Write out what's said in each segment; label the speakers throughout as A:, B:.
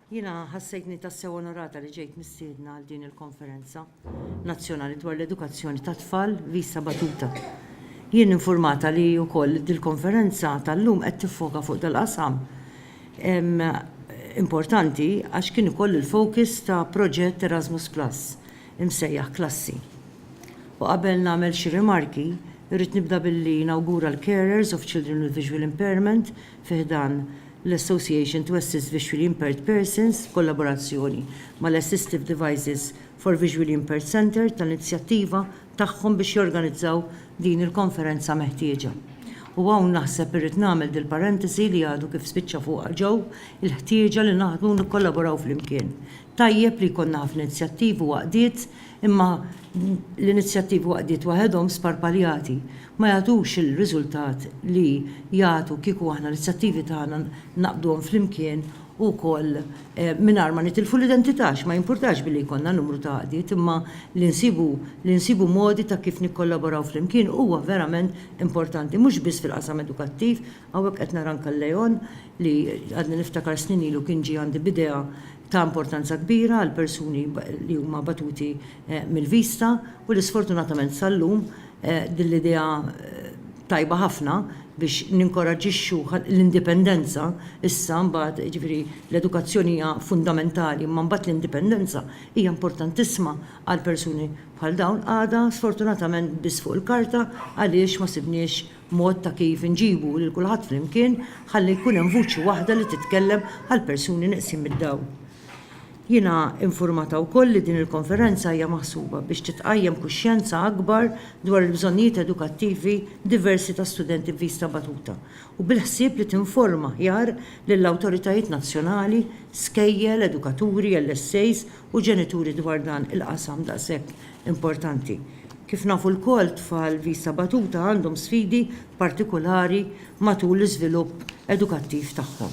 A: Jiena ħassejtni tassew onorata li ġejt mistiedna għal din il-konferenza nazzjonali dwar l-edukazzjoni ta' tfal visa batuta. Jien informata li wkoll dil-konferenza tal-lum qed tiffoka fuq dal-qasam importanti għax kien ukoll il-focus ta' proġett Erasmus Plus imsejjaħ Klassi. U qabel nagħmel xi rimarki, irrid nibda billi nawgura l-carers of children with visual impairment fi ħdan l-Association to Assist Visually Impaired Persons b'kollaborazzjoni mal-Assistive Devices for Visually Impaired Centre tal-inizjattiva tagħhom biex jorganizzaw din il-konferenza meħtieġa. U hawn naħseb irrid nagħmel dil-parentesi li għadu kif spiċċa fuqha Joe, il-ħtieġa li naħdmu u nikkollaboraw flimkien. Tajjeb li jkollna ħafna inizjattivi u għaqdiet, imma l-inizjattivi u għaqdiet waħedhom sparpaljati ma jagħtux il-riżultat li jagħtu kieku aħna l-inizjattivi tagħna ngħaqqduhom flimkien u wkoll mingħajr ma nitilfu l-identità għax ma jimpurtax billi jkollna numru ta' għaqdiet imma li nsibu li nsibu modi ta' kif nikkollaboraw flimkien huwa verament importanti mhux biss fil-qasam edukattiv Hawnhekk qed nara anke l-Leon li għadni niftakar snin ilu kien ġie għandi b'idea ta' importanza kbira għal persuni li huma batuti mill-vista u li sfortunatament sal-lum din l-idea tajba ħafna biex ninkoraġġixxu l-indipendenza issa mbagħad jiġifieri l-edukazzjoni hija fundamentali imma mbagħad l-indipendenza hija importantissima għal persuni bħal dawn għadha sfortunatament biss fuq il-karta għaliex ma sibniex Mod ta' kif inġibu lil kulħadd flimkien ħalli jkun hemm vuċi waħda li titkellem għall-persuni neqsin mid-dawl. Jiena infurmata wkoll li din il-konferenza hija maħsuba biex titqajjem kuxjenza akbar dwar il-bżonnijiet edukattivi diversi ta' studenti b'vista batuta u bil-ħsieb li tinforma aħjar lill-awtoritajiet nazzjonali, skejjel, edukaturi, LSAs u ġenituri dwar dan il-qasam daqshekk importanti. Kif nafu lkoll, tfal vista batuta għandhom sfidi partikulari matul l-iżvilupp edukattiv tagħhom.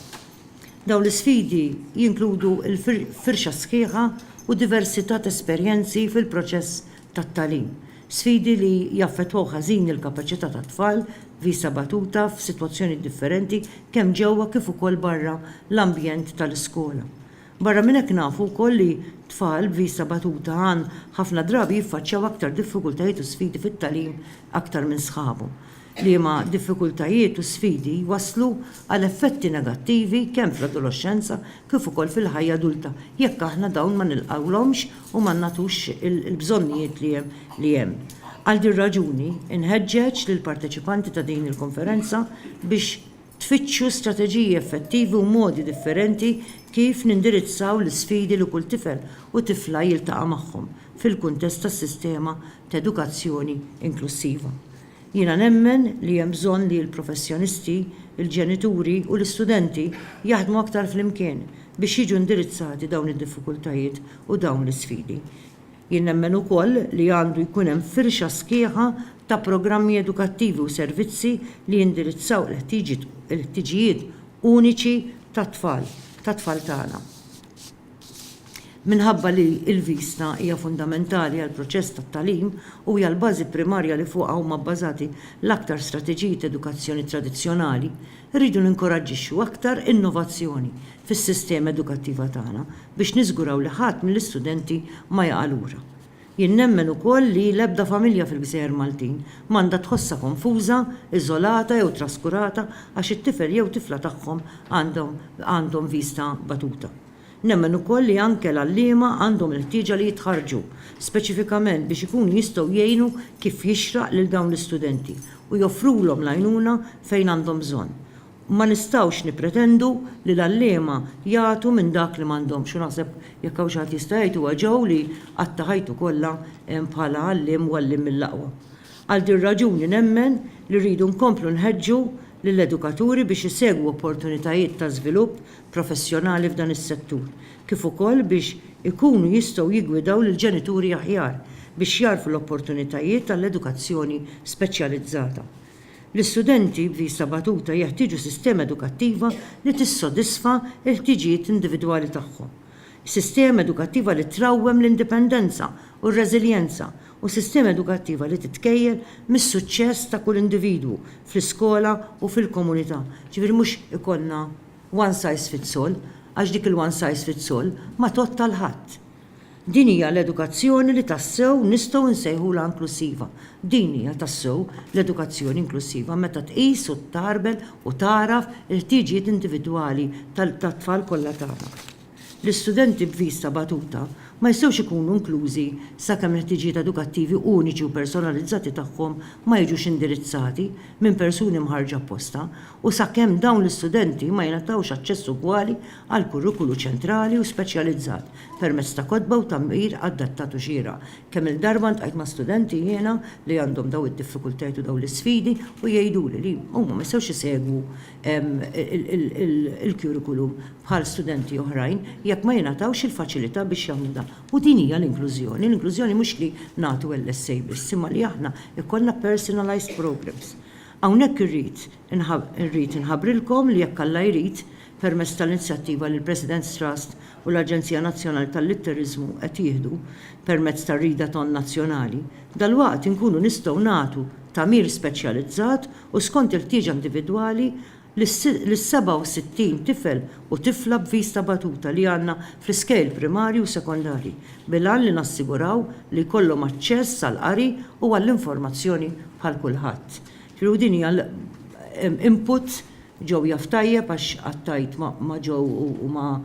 A: Dawn l-isfidi jinkludu l-firxa sħiħa u diversità ta' esperjenzi fil-proċess tat-tagħlim, sfidi li jaffettwaw ħażin il-kapaċità tat-tfal vista batuta f'sitwazzjonijiet differenti kemm ġewwa kif ukoll barra l-ambjent tal-iskola. Barra minn hekk nafu wkoll li tfal b'vista batuta għan ħafna drabi jiffaċċjaw aktar diffikultajiet u sfidi fit-tagħlim aktar minn sħabhom, liema diffikultajiet u sfidi jwasslu għal effetti negattivi kemm fl-adoloxxenza kif ukoll fil-ħajja adulta jekk aħna dawn ma nilqgħulhomx u ma nagħtux il-bżonnijiet li hemm. Għal din raġuni, inħeġġeġ lill-parteċipanti ta' din il-konferenza biex tfittxu strateġiji effettivi u modi differenti kif nindirizzaw l-isfidi li kull tifel u tifla jiltaqa' magħhom fil-kuntest tas-sistema ta' edukazzjoni inklussiva. Jiena nemmen li hemm bżonn li l-professjonisti, il-ġenituri u l-istudenti jaħdmu aktar flimkien biex jiġu indirizzati dawn id-diffikultajiet u dawn l-isfidi. Jien nemmen ukoll li għandu jkun hemm firxa sħiħa ta' programmi edukattivi u servizzi li jindirizzaw il-ħtiġijiet uniċi tat-tfal, tat-tfal tagħna. Minħabba li l-vista hija fundamentali għall-proċess tat-tagħlim u hija l-bażi primarja li fuqha huma bbażati l-aktar strateġiji t'edukazzjoni tradizzjonali, Irridu ninkoraġġixxu aktar innovazzjoni fis-sistema edukattiva tagħna biex niżguraw li ħadd mill-istudenti ma jaqa' lura. Jien nemmen ukoll li l-ebda familja fil-Gżejjer Maltin ma għandha tħossha konfuża, iżolata jew traskurata għax it-tifel jew tifla tagħhom għandhom għandhom vista batuta. Nemmen ukoll li anke l-għalliema għandhom il-ħtieġa li jitħarrġu speċifikament biex ikunu jistgħu jgħinu kif jixraq lil dawn l-istudenti u joffrulhom l-għajnuna fejn għandhom bżonn. Ma nistgħux nippretendu li l-għalliema jagħtu minn dak li m'għandhomx u naħseb jekk hawn xi ħadd jista' jgħid huwa Joe li qatta' ħajtu kollha bħala għalliem u għalliem mill-aqwa. Għal din raġuni nemmen li rridu nkomplu nħeġġu lill-edukaturi biex isegwu opportunitajiet ta' żvilupp professjonali f'dan is-settur, kif ukoll biex ikunu jistgħu jiggwidaw lill-ġenituri aħjar biex jagħrfu l-opportunitajiet għall-edukazzjoni speċjalizzata. L-istudenti b'vista batuta jeħtieġu sistema edukattiva li tissodisfa l-ħtiġijiet individwali tagħhom, sistema edukattiva li trawwem l-indipendenza u r-reżiljenza, u sistema edukattiva li titkejjel mis-suċċess ta' kull individwu fl-iskola u fil-komunità, ġifieri mhux ikollna. one size fits all, għax dik il-one size fits all ma tgħodd għal ħadd. Din hija l-edukazzjoni li tassew nistgħu nsejħulha inklussiva. Din hija tassew l-edukazzjoni inklussiva meta tqis u ttarbel u tagħraf il-ħtiġijiet individwali tat-tfal kollha tagħna. L-istudenti b'viż ta' batuta ma jistgħux ikunu inklużi sakemm il-ħtiġijiet edukattivi uniċi u personalizzati tagħhom ma jiġux indirizzati minn persuni mħarrġa apposta u sakemm dawn l-istudenti ma jingħatawx aċċess ugwali għall-kurrikulu ċentrali u speċjalizzat permezz ta' kotba u tagħmir adattat u xieraq. Kemm-il darba ltqajt ma' studenti jiena li għandhom dawn id-diffikultajiet u dawn l-isfidi u jgħiduli li huma ma jistgħux isegwu il-curriculum bħal studenti oħrajn jekk ma jingħatawx il-faċilità biex jagħmlu dan. U din hija l-inklużjoni. L-inklużjoni mhux li nagħtu LSA biss, imma li aħna jkollna personalized programs. Hawnhekk irrid irrid inħabbrilkom li jekk Alla jrid, permezz tal-inzjattiva li l-President's Trust u l-Aġenzija Nazzjonali tal-Litteriżmu qed jieħdu permezz tar-Readathon Nazzjonali, dalwaqt inkunu nistgħu nagħtu tagħmir speċjalizzat u skont il-ħtieġa individwali, lis-67 tifel u tifla b'viż ta' batuta li għandna fl-iskejjel primarji u sekondarji, bil-għan li nassiguraw li jkollhom aċċess għall-qari u għall-informazzjoni bħal kulħadd. Ġifieri u din hija input, ġew jaf tajjeb għax qatt għidt ma' ġew u ma'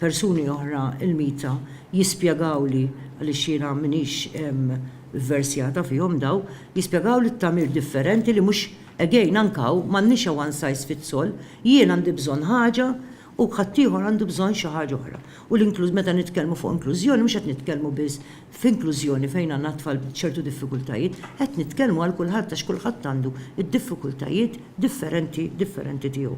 A: persuni oħra il-mita jispjegawli għaliex jiena m'iniex Vversjata fihom daw jispjegaw li t-tagħmir differenti li mhux again anke hawn m'għandniex a one size fits all, jien għandi bżonn ħaġa u ħaddieħor għandu bżonn xi ħaġa oħra. U l-inkluż meta nitkellmu fuq inklużjoni mhux qed nitkellmu biss f'inklużjoni fejn għandna tfal b'ċertu diffikultajiet, qed nitkellmu għal kulħadd għax kulħadd għandu d-diffikultajiet differenti differenti tiegħu.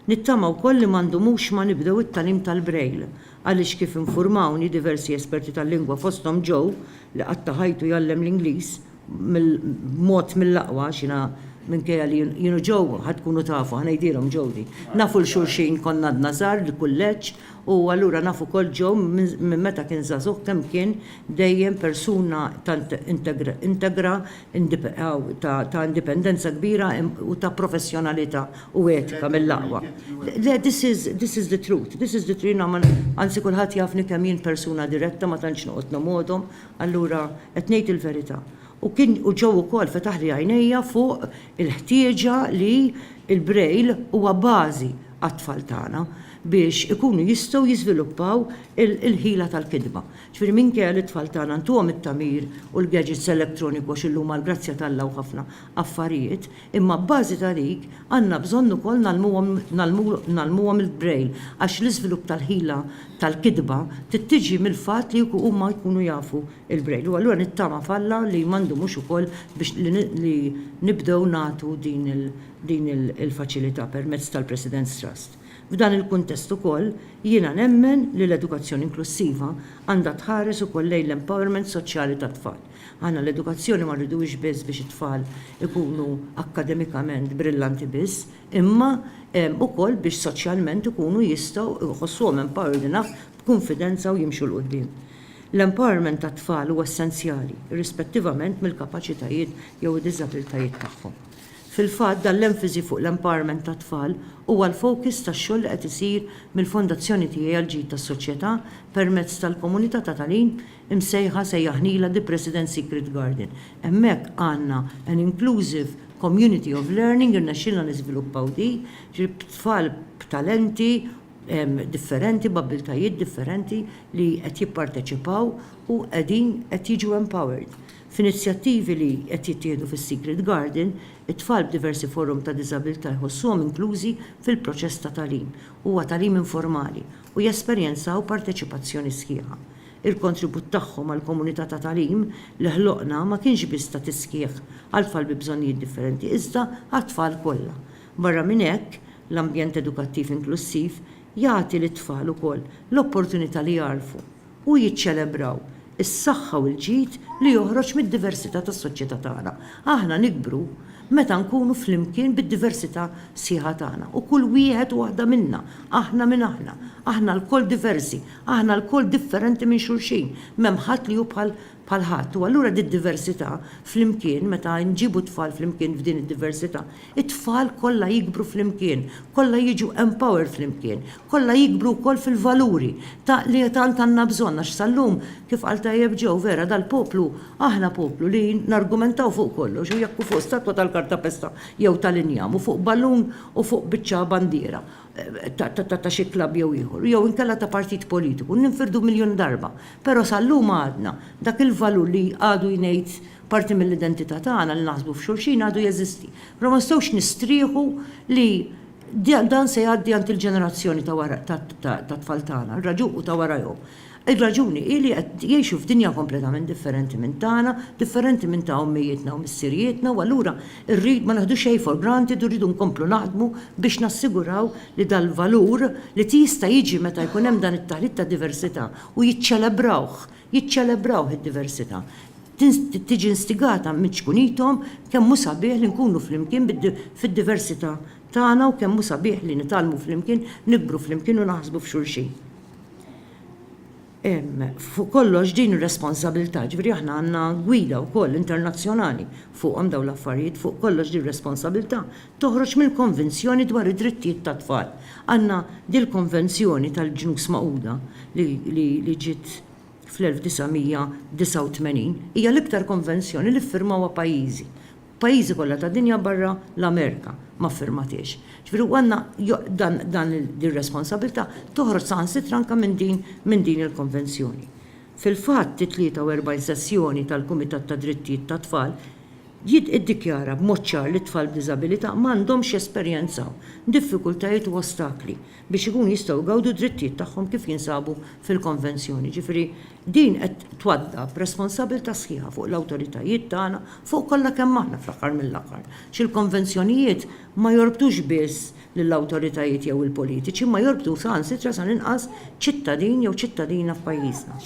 A: Nittama wkoll li ma ndumux ma nibdew it-tagħlim tal-Braille Għaliex kif infurmawni diversi esperti tal-lingwa fosthom Joe li qatta' ħajtu jgħallem l-Ingliż b'mod mill-aqwa għax jiena minkejja li jien u Joe ħa tkunu tafu, ħa ngħidilhom Joe din, nafu 'l xulxin konna għadna żgħar l-kulleġġ u allura naf ukoll Joe minn meta kien żagħżugħ kemm kien dejjem persuna tant integra ta' indipendenza kbira u ta' professjonalità u etika mill-aqwa. Le, this is, this is the truth, this is the truth, jiena ma, anzi kulħadd jafni kemm jien persuna diretta ma tantx noqgħod nomgħodhom, allura qed ngħid il-verità. U kien, u Joe ukoll fetaħli għajnejja fuq il-ħtieġa li l-Braille huwa bażi għat-tfal tagħna biex ikunu jistgħu jiżviluppaw il-ħila tal-kitba. Ġifieri minkejja li t-tfal tagħna ntuhom it-tagħmir u l-gadgets electroniku għax illum għall-grazzja t'Alla hu ħafna affarijiet, imma abbażi ta' dik għandna bżonn ukoll ngħallmuhom ngħallmuhom il-braille għax l-iżvilupp tal-ħila tal-kitba trid tiġi mill-fatt li huma jkunu jafu l-braille. U allura nittama f'Alla li ma ndumux ukoll biex li nibdew nagħtu din il-faċilità permezz tal-President's Trust. F'dan il-kuntest ukoll, jiena nemmen li l-edukazzjoni inklussiva għandha tħares ukoll lejn l-empowerment soċjali tat-tfal. Aħna l-edukazzjoni ma rriduhiex biss biex it-tfal ikunu akkademikament brillanti biss, imma ukoll biex soċjalment ikunu jistgħu jħossuhom empowered enough b'kunfidenza u jimxu 'l quddiem. L-empowerment tat-tfal huwa essenzjali, irrispettivament mill-kapaċitajiet jew id-diżabiltajiet tagħhom. Fil-fatt, dan l-emfasi fuq l-empowerment tat-tfal huwa l-focus tax-xogħol li qed isir mill-Fondazzjoni Tiegħi għall-Ġid tas-Soċjetà permezz tal-komunità ta' tagħlim imsejħa sejjaħnilha The President's Secret Garden. Hemmhekk għandna an inclusive community of learning, irnexxielna niżviluppaw di, ġifieri b'tfal b'talenti differenti, b'abbiltajiet differenti li qed jipparteċipaw u qegħdin qed jiġu empowered. F'inizjattivi li qed jittieħdu fis-Secret Garden, it-tfal b'diversi forom ta' diżabilità jħossuhom inklużi fil-proċess ta' tagħlim, huwa tagħlim informali, u jesperjenzaw parteċipazzjoni sħiħa. Il-kontribut tagħhom għall-komunità ta' tagħlim li ħloqna ma kienx biss ta' tisħiħ għat-tfal bi bżonnijiet differenti iżda għat-tfal kollha. Barra minn hekk, l-ambjent edukattiv inklussiv jagħti lit-tfal ukoll l-opportunità li jagħrfu u jiċċelebraw is-saħħa u l-ġid li joħroġ mid-diversità tas-soċjetà tagħna. Aħna nikbru meta nkunu flimkien bid-diversità sħiħa tagħna u kull wieħed u waħda minna, aħna min aħna, aħna lkoll diversi, aħna lkoll differenti minn xulxin, m'hemm ħadd li hu bħal bħal ħadd, u allura did-diversità flimkien, meta nġibu t-tfal flimkien f'din id-diversità, it-tfal kollha jikbru flimkien, kollha jiġu empowered flimkien, kollha jikbru wkoll fil-valuri ta' li tant għandna bżonn għax sal-lum, kif qal tajjeb Joe, vera dal-poplu, aħna poplu li nargumentaw fuq kollox u jekk hu fuq statwa tal-kartapesta jew tal-injam u fuq ballun u fuq biċċa bandiera. ta' xi klabb jew ieħor, jew inkella ta' partit politiku, ninfirdu miljun darba, però sal-lum għadna, dak il-valur li għadu jngħid parti mill-identità tagħna, li naħsbu f'xulxin, għadu jeżisti. Però ma nistgħux nistrieħu li dan se jgħaddi għand il-ġenerazzjoni ta' wara, tat-tfal tagħna, u ta' warajhom. Ir-raġuni hi li qed jgħixu f'dinja kompletament differenti minn tagħna, differenti minn ta' ommijietna u missirijietna u allura rrid ma naħdu xejn for granted u rridu nkomplu naħdmu biex nassiguraw li dal-valur li tjista' jiġi meta jkun hemm dan it-taħlit ta' diversità u jiċċelebrawh, jiċċelebrawh id-diversità, tiġi instigata minn ċkunithom kemm hu sabiħ li nkunu flimkien fid-diversità tagħna u kemm hu sabiħ li nitgħallmu flimkien, nikbru flimkien u naħsbu f'xulxin. fuq kollox din ir-responsabilità, ġifieri aħna għandna gwida wkoll internazzjonali fuqhom dawn l-affarijiet, fuq kollox din ir-responsabilità toħroġ mill-Konvenzjoni dwar id-Drittijiet tat-Tfal. Għandna dil-Konvenzjoni tal-Ġnus Magħquda li ġiet fl-1989, hija l-iktar konvenzjoni li ffirmawha pajjiżi. Pajjiżi kollha tad-dinja barra l-Amerika ma ffirmatiex. Ġifieri u għandna dan ir-responsabbiltà toħroġ saħansitra anke minn din minn din il-konvenzjoni. Fil-fatt it-43 sessjoni tal-Kumitat tad-Drittijiet tat-Tfal jid iddikjara b'mod ċar li t-tfal b'diżabilità ma għandhomx jesperjenzaw diffikultajiet u ostakli biex ikunu jistgħu jgawdu d-drittijiet tagħhom kif jinsabu fil-konvenzjoni. Ġifieri Din qed twaddab responsabilità sħiħa fuq l-awtoritajiet tagħna fuq kollha kemm aħna fl-aħħar mill-aħħar, għax il-konvenzjonijiet ma jorbtux biss lill-awtoritajiet jew il-politiċi imma jorbtu saħansitra sal-inqas ċittadin jew ċittadina f'pajjiżna.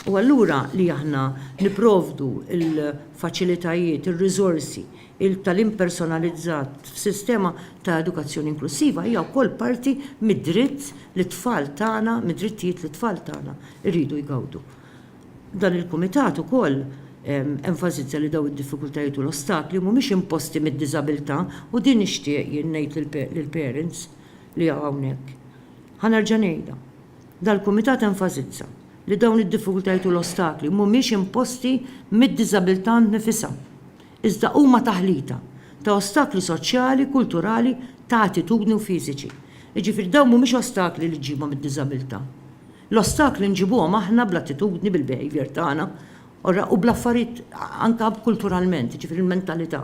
A: U allura li aħna nipprovdu l-faċilitajiet, ir-riżorsi, Il-tagħlim personalizzat f'sistema ta' edukazzjoni inklussiva hija wkoll parti mid-dritt li t-tfal tagħna, mid-drittijiet li t-tfal tagħna jridu jgawdu. Dan il-Kumitat ukoll enfasizza li dawn id-diffikultajiet u l-ostakli mhumiex imposti mid-diżabilità u din nixtieq jien ngħid lill-parents li hawn hawnhekk. Ħa nerġa' ngħidha. Dal-Kumitat enfasizza li dawn id-diffikultajiet u l-ostakli mhumiex imposti mid-diżabilità nnifisha. iżda huma taħlita ta' ostakli soċjali, kulturali, ta' attitudni u fiżiċi. Jiġifieri dawn mhumiex ostakli li ġġibhom id-diżabilità. L-ostakli nġibuhom aħna bl-attitudni, bil-behaviour tagħna, u bl-affarijiet anke kulturalment, jiġifieri l-mentalità.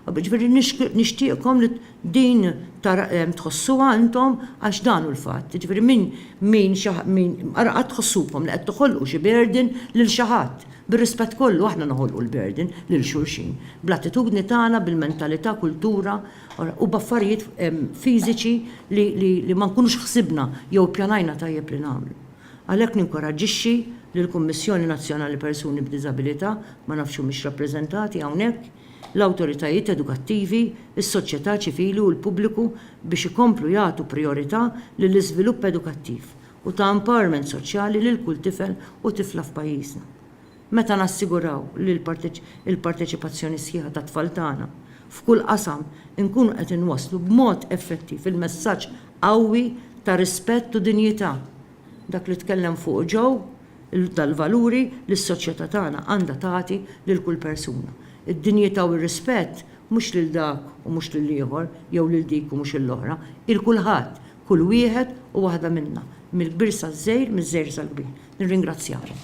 A: Jiġifieri nixtieqkom li Din tħossuha intom għax dan hu l-fatt. Jiġifieri min min xi min ara qatt tħossukom li qed toħolqu xi burden lil xi ħadd. Bir-rispett kollu aħna noħolqu l-burden lil xulxin. Bl-attitudni tagħna, bil-mentalità, kultura, u b'affarijiet fiżiċi li li li ma nkunux ħsibna jew ippjanajna tajjeb li nagħmlu. Għalhekk ninkoraġġixxi lill-Kummissjoni Nazzjonali Persuni b'Diżabilità, ma nafx humiex rappreżentati hawnhekk, l-awtoritajiet edukattivi, is-soċjetà ċivili u l-pubbliku biex ikomplu jagħtu prijorità lill-iżvilupp edukattiv u ta' empowerment soċjali lil kull tifel u tifla f'pajjiżna. Meta nassiguraw li l-parteċipazzjoni sħiħa tat-tfal tagħna f'kull qasam inkunu qed inwasslu b'mod effettiv il-messaġġ qawwi ta' rispett u dinjità, dak li tkellem fuqu Joe, tal-valuri li s-soċjetà tagħna għandha tagħti lil kull persuna. Id-dinjità u r-rispett mhux lil dak u mhux lil ieħor jew lil dik u mhux lill-oħra, hi l-kulħadd, kull wieħed u waħda minna, mill-kbir saż-żgħir, miż-żgħir sal-kbir. Nirringrazzjakom.